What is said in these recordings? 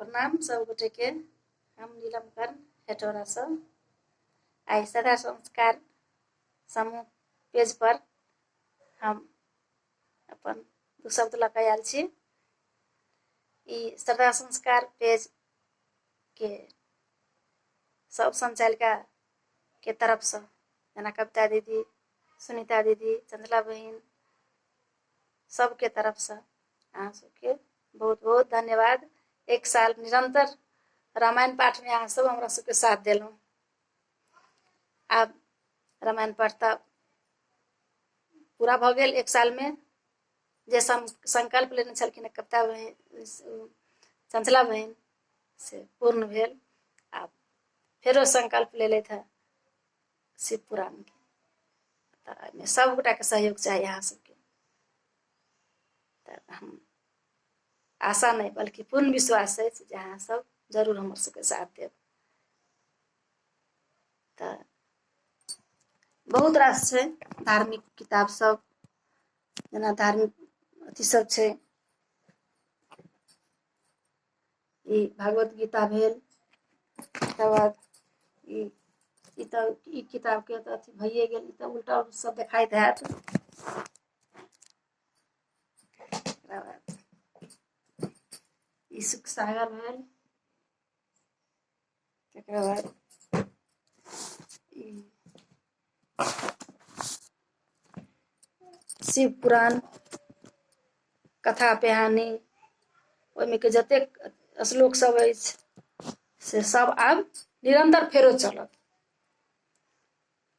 प्रणाम सब गोटे के हम नीलम कर्ण हेटोरा से आई सदा संस्कार समूह पेज पर हम अपन दू शब्द लऽ कऽ आयल छी ई सदा संस्कार पेज के सब संचालिका के तरफ से जेना कविता दीदी सुनीता दीदी चंचला बहिन सबके तरफ से अहाँ सबके बहुत बहुत धन्यवाद एक साल निरंतर रामायण पाठ में अहाँ सब हमरा सबके साथ दिलों आब रामायण पाठ तऽ पूरा भऽ गेल एक साल में जे संकल्प लेने छलखिन कविता बहन चंचला बहन से पूर्ण भेल आब फेरो संकल्प लेलथि हँ से पूरा नहि तऽ एहिमे सभगोटाके सहयोग चाही अहाँ सभके तऽ हम आशा नहि बल्कि पूर्ण विश्वास अछि जे अहाँ सभ जरूर हमर सभके साथ देब तऽ बहुत रास छै धार्मिक किताब सब जेना धार्मिक अथी सब छै ई भागवत गीता भेल तकर बाद ई ई तऽ ई किताबके तऽ अथी भइए गेल ई तऽ उल्टा सब देखाइत हैत तकरा बाद ई सुख सागर भेल Te quiero dar. शिव पुराण कथा पेहानी ओहिमे के जतेक श्लोक सब अछि से सब आब निरंतर फेरो चलत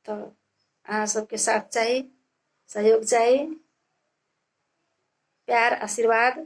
तऽ अहाँ सबके साथ चाही सहयोग चाही प्यार आशीर्वाद